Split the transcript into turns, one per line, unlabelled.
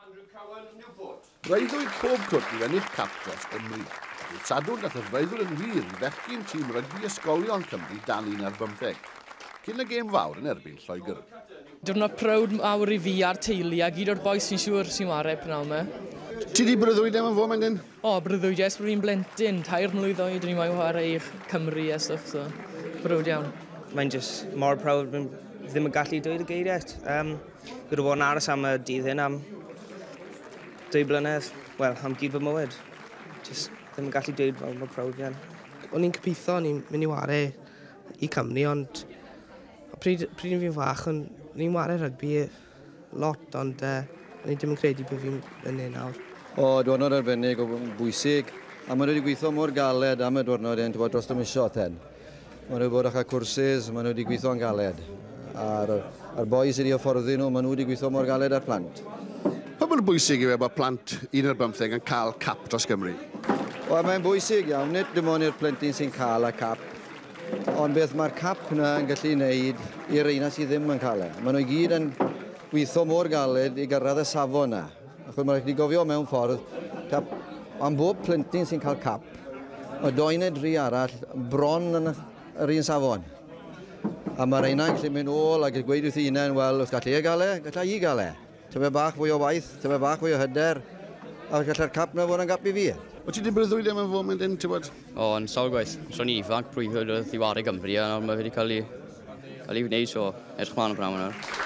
Andrew Cowan, Newport. Breuddwyd pob cwrt i ennill cap dros Gymru. Ar y Sadwrn, daeth y freuddwyd yn wir i fechgyn tîm rygbi ysgolion Cymru dan 11, cyn y gêm fawr yn erbyn Lloegr. Diwrnod prowd
mawr i fi a'r teulu a gyd o'r bois sy'n siŵr sy'n ware pnawn yma. Ti di breuddwyd
am yn fo, Mendyn? O, breuddwyd, jes, bod
fi'n blentyn, tair mlwydd oed, o'n i'n wain ware i Cymru a stwff, so, browd iawn. Mae'n just
mor prowd, ddim yn gallu dweud y geiriau. Um, Fi wedi bod yn aros am y dydd hyn am dwy blynedd. Wel, am gyd fy mywyd. Just ddim yn gallu dweud fel mor proud fi yn. O'n i'n cypitho,
o'n i'n mynd i ware i Cymru, ond pryd, pryd fi'n fach, o'n i'n ware rygbi lot, ond uh, o'n i ddim yn credu bod fi'n yn ei nawr. O, diwrnod
arbennig o bwysig, a mae wedi gweithio mor galed am y diwrnod hyn, ti'n bod, dros y misio ten. Maen nhw bod eich cwrsus, maen nhw wedi gweithio'n galed. A'r, a'r boi sydd wedi hyfforddi nhw, maen nhw wedi gweithio mor galed â'r plant. Pa mor
bwysig yw e bod plant un ar bymtheg yn cael cap dros Gymru? Wel, mae'n
bwysig iawn, nid dim ond i'r plentyn sy'n cael y cap, ond beth mae'r cap yna yn gallu wneud i'r reina sydd ddim yn cael e. Maen nhw i gyd yn gweithio mor galed i gyrraedd y safon yna. Achos mae'n rhaid i gofio mewn ffordd, tap, am bob plentyn sy'n cael cap, mae doi neu dri arall bron yn yr un safon. A mae'r rheina'n gallu mynd ôl ac yn gweud wrth ei hunain, wel, os gallai e gael e, gallai i gael e. Tyfe bach fwy o waith, tyfe bach fwy o hyder, a gallai'r cap na fod yn gap i fi. Wyt ti wedi breuddwyd am y
foment hyn, ti'n bod? O, yn sawl gwaith.
So ni ifanc, breuddwyd wrth i wario Gymru, a nawr mae wedi cael ei, cael ei wneud, so edrych mlaen o bnawn nawr.